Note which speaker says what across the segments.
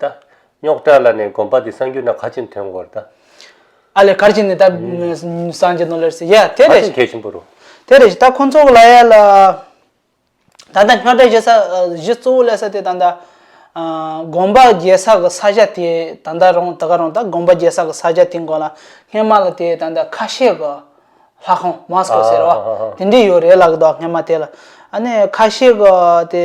Speaker 1: ད། རྙོག་དྲ་ལ་ནས་དགོན་པ་འདི་སངས་རྒྱུ་ན་ག་ཅིན་དོན་གོར་ད། ཨ་ལས་གར་
Speaker 2: ཅིན་ནི་ད། སངས་རྒྱུ་ནོ་ལེར་སི་ཡ། དེ་རེད། ག་ཅིན་གལ་ཆེན་པོ་རུ། དེ་
Speaker 1: རེད་ད་ཁོང་
Speaker 2: ཚོ་ལ་ཡ་ལ། ད་ལྟ་རྙོག་དྲ་བཞི་ས་བཞི་གཙོ་བོ་ལས་ས་དེ་ད་ལྟ། དགོན་པ་རྒྱལ་ས་གི་ས་ཆ་དེ་ད་ལྟ་རོང་ད་ག་རོང་ད་དགོན་པ་རྒྱལ་ས་གི་ས་ཆ་དེ་མགོ་ལ་སྔན་མ་ལ་དེ་ད་ལྟ་ཁ་ཤས་གི། ལྷ་ཁང Mosque ཟེར་བ། དེ་འདྲི་ཡོད་རེད་ལགས་དོ་སྔན་མ་དེ་ལ། ཨ་ནས་ཁ་ཤས་གི་དེ།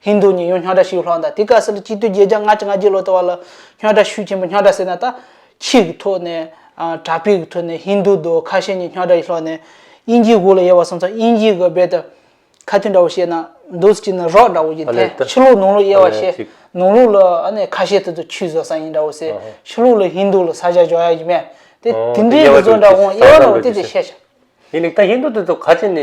Speaker 2: ཧིན་རྡུ་ཉིད་ཡོངས་སྙོག་དྲ་ཞུས་ལྷག་མཐའ་དེ་ག་ས་ལ་སྤྱི་འཐུས་བརྒྱད་བརྒྱ་ལྔ་བཅུ་ང་བརྒྱད་ལོ་ད་བར་ལ་སྙོག་དྲ་ཞུས་ཆེན་པོ་སྙོག་དྲ་ཟེར་ན་ད་ཕྱིས་ཀྱི་ཐོག་ནས་དྲ་འཕེལ་གྱི་ཐོག་ནས་ཧིན་རྡུ་རྡོ་ཁ་ཤས་ཉིད་སྙོག་དྲ་ཡི་ལྷག་ནས་དབྱིན་ཇིའི་གུ་ལ་ཡེ་བ་སོང་ཙང་དབྱིན་ཇིའི་གི་རྦད་དུ་ཁ་ཐུན་འདྲ་བོ་བཤད་ན་འདུག་སྤྱིར་ན་རོགས་འདྲ་བོ་ཡིན་ཐལ་ཕྱི་ལུགས་ནང་ལུགས་དབྱེ་བ་བཤད་ནང་ལུགས་ལ་ཨ་ནེ་ཁ་ཤས་ཐུ་ཐུ་ཆུས་བཟོ་ས་ཡིན་འདྲ་བོ་ཟེར་ཕྱི་ལུགས་ལ་ཧིན་རྡུ་ལ་ས་ཆ་འཇོག་ཡ་ཡིན་མེད་དེ་དེ་འདྲའི་གི་བཟོ་འདྲ་བོ་དབྱེ་བ་འདྲ་བོ་དེ་དེ་བཤད་བྱ། དེ་ནི་ད་ཧིན་རྡུ་
Speaker 1: དེ་ཚོ་ཁ་ཆེ་ནས།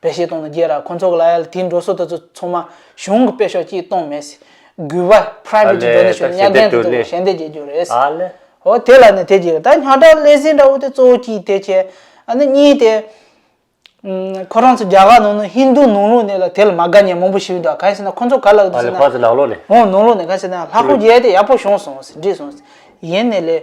Speaker 2: དཔེ་བཤེར་གཏོང་ན་རྒྱས་ར་ཁོ་ཚོགས་ལ་དེའི་འགྲོ་སྲོལ་དེ་ཚོ་ཚོ་མ་གཞུང་གི་དཔེ་ཤོག་ཅིག་གཏོང་མེད་སྲིད། འགུལ་བ Private ཀྱི་འགྲོ་ནས་ཤོར་ཉག་རྒན་དེ་ཚོ་ཞལ་འདེབས་བྱེད་རྒྱུ་རེད་སྲིད། ཨོ་དེ་
Speaker 1: ལ་ནི་དེ་
Speaker 2: གྱིས་ད་ཉག་དྲག་ལས་ཟིན་འདྲ་བོ་དེ་གཙོ་བོ་གྱིས་དེ་བྱས་ཨ་ནི་གཉིས་དེ། ཁོ་རང་ཚོ་རྒྱ་གར་ནང་ནི་ཧིན་རྡུ་ནང་ལུགས་ནས་ལ་དེ་ལ་མ་དགའ་ཉེ་མང་པོ་ཞིག་འདུག་ག་གལ་སྲིད་ན་ཁོ་ཚོ་ག་ལ་འདུག་ཟེར་ན། ཨོ་ནང་ལུགས་ནས་ག་གལ་
Speaker 1: སྲིད་ན་
Speaker 2: ལྷ་སྐུ་རྒྱལ་དེ་ཡག་པོ་བྱུང་སོང་ཟེར་འདྲི་སོང་ཡིན་ནི་ལས།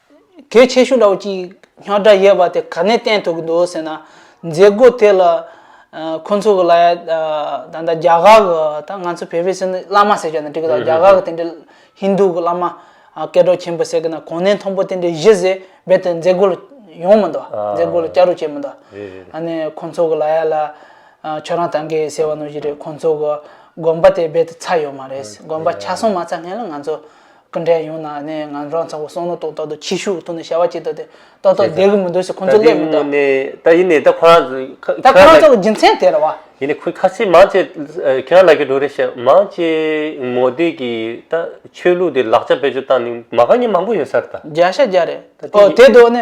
Speaker 2: གལ་ཆེ་ཤོས་ལ་ཅིག་ཉག་སྒྲ་ཡོད་པ་དེ་ག་ནས་བསྟན་ཐུབ་ཀྱི་འདུག་ཟེར་ན། མཛད་སྒོ་དེ་ལ། ཁོ་ཚོ་གི་ལ་ཡ། ད་ལྟ་རྒྱ་གར་གྱི་ད་ང་ཚོ་བོད་པའི་སེམས་ནི་བླ་མ་ཟེར་ཀྱང་ནི་འགྲིག་གི་ད་རྒྱ་གར་གྱི་དེ་འདྲའི་ཧིན་རྡུ་གྱི་བླ་མ། སྐལ་གྲོགས་ཆེན་པོ་ཟེར་གྱི་ན་གོང་ནས་མཐོང་པོ་དེ་འདྲའི་གཞི་ཟེར་རྦད་དེ་མཛད་སྒོ་ལ་ཡོང་མི་འདུག་མཛད་སྒོ་ལ་བསྐྱར་རུ་བྱེད་མི་འདུག། ཨ་ནི་ཁོ་ཚོ་གི་ལ་ཡ་ལ། ཁྱོད་རང་ད་འགའི་ཟེར་བ་ནོར་གྱི་རེད་ཁོ་ཚོ་གི་དགོན་པ་དེ་རྦད་དེ་ཚར་ཡོད་མ་རེད་དགོན་པ་ཆ་སོང་མ་ཚར་སྔན་ལ་ང་ཚོ། སྐུ་འདྲེན་ཡོང་ན་ནི་ང་རང་ཚང་བོ་སོང་ནོ་ཏོག་ཏོག་ཏུ་ཁྱི་ཤུག་གི་ཐུག་ནས་བྱ་བ་བྱེད་དོ་དེ་ཏོག་ཏོག་བསྡད་གི་མི་འདུག་ཟེར་ཁོང་ཚོ་སླེབས་མི་འདུག། ད་ཡིན་ནའི་ད་
Speaker 1: ཁོ་རང་ཚོ་ཁ་ད་ཁོ་རང་ཚོ་རྒྱུ་
Speaker 2: མཚན་དེ་རེད་བ། ཡིན་ནའི་ཁོས་ཁ་ཆེ་
Speaker 1: མང་ཆེ་ཁྱེད་རང་ལ་གི་འགྲོ་རེད་བཤད་མང་ཆེ་མོ་བསྡད་གི་ད་ཆོས་ལུགས་དེ་ལག་ཆ་བེད་སྤྱོད་བཏང་ནི་མ་ག་ཉེ་མང་པོ་ཡོད་ས་རེད་ད། བརྒྱ་ཤ་བརྒྱ་རེད་
Speaker 2: ཨོ་དེ་དོ་ནི།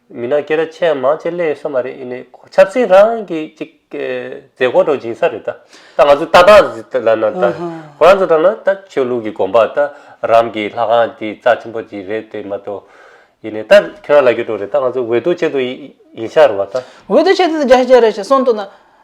Speaker 1: མི་ནག་སྐད་ར་ཆེ་མང་ཆེ་གླེང་ས་མ་རེད་ཡིན་ནས་ཆབ་སྲིད་རང་གི་ཅིག་མཛད་སྒོ་དང་སྦྱིན་ས་རེད་ད་ད་ང་ཚོ་ལྟ་སྟངས་ལ་ན་ད་ཁོ་རང་ཚོ་དང་ན་ད་ཆོས་ལུགས་ཀྱི་དགོངས་པ་ད་རང་གི་ལྷ་ཁང་དེ་རྩ་ཆེན་པོ་དེ་རེད་དེ་མ་གཏོགས་ཡིན་ནས་ད་ཁྱོད་རང་ལ་རྒྱུ་དྲོ་རེད་ད་ང་ཚོ་འོས་བསྡུ་བྱེད་དུ་ཡིན་ཤག་རེད་བ་ད། འོས་བསྡུ་བྱེད་དུ་ཡིན་ཤག་
Speaker 2: རེད་ཞེས་གསུངས་འདུག་ན།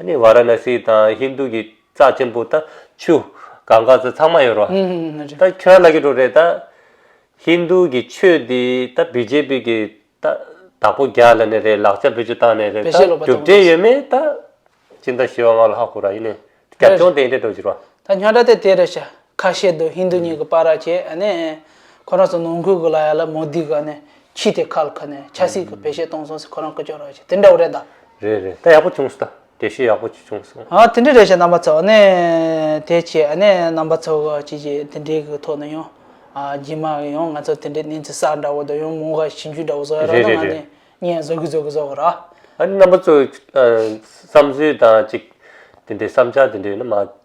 Speaker 1: ནི་བཱ་ར་ན་སི་དང་ཧིན་རྡུ་གི་རྩ་ཆེན་པོ་དང་ཆུ། གང་ག་ཚོད་ཚང་མ་ཡོད་རོ། ད་ཁྱོད་ར་ལ་གི་འགྲོ་རེད་ད། ཧིན་རྡུ་གི་ཆོས་དེ་ད་བི་ཇེ་པི་གི་ད་དྭགས་པོ་རྒྱ་ལ་ནས་རེད་ལག་ཆ་བེད་སྤྱོད་བཏང་ནས་རེད་ད་གྲུབ་འབྲས་ཡོད་མེད་ད། ཅི་འདྲ་ཞེས་བ་ང་ལ་ཧ་གོ་ར་ཡིན་ནས་རྒྱབ་ལྗོངས་དེ་འདྲས་འགྲོ་བཞིན་རོ། ད་ཁྱོད་ར་དེ་དེ་རེད་
Speaker 2: བྱ། ཁ་བཤད་དུ་ཧིན་རྡུ་ཉིད་ཀྱི་པཱ་ར་ཅེས་ནས། ཁོ་རང་ཚོ་ནང་ཁུལ་གྱི་ལ་ཡ་ལ་མོ་དི་ག་ནས་ཕྱིས་དེ་ཁ་ལ་ཁ་ནས་ཆ་སྲིད་ཀྱི་བེད་སྤྱད་གཏོང་སོང་ཟེར་ཁོ་རང་སྐུ་ཅོག་ར་ཅེས་དེ་འདྲ་བོ་རེད་ད། རེད་རེད་ད་ཡག་པོ་བྱུང་
Speaker 1: སོ་ད་དེ་བཤད་ཡག་པོ་བྱུང་སོ། ཨ་དེ་འདྲ་རེད་བྱས་རྣམ་པ་
Speaker 2: ཚོ་ནས་དེ་བྱས་ནས་རྣམ་པ་ཚོ་ག་ཅིག་ཅིག་དེ་འདྲའི་གི་ཐོག་ནས་ཡང་ཨ་རྗེས་མ་གི་ཡང་ང་ཚོ་དེ་འདྲའི་གནས་ཚུལ་གསར་འདྲ་བོ་དང་ཡང་མོ་ག་ཞིབ་འཇུག་འདྲ་བོ་བཟོ་ཡ་རང་རེད་ན་ང་རེད་རེད་ནས་བརྙན་བཟོ་གི་བཟོ་གི་བཟོ་གི་ར། ཨ་རི་རྣམ་པ་ཚོ་
Speaker 1: བསམ་ཚུལ་དང་ཅིག་དེ་འདྲའི་བསམ་འཆར་དེ་འདྲ་ཡོད་ན་མ།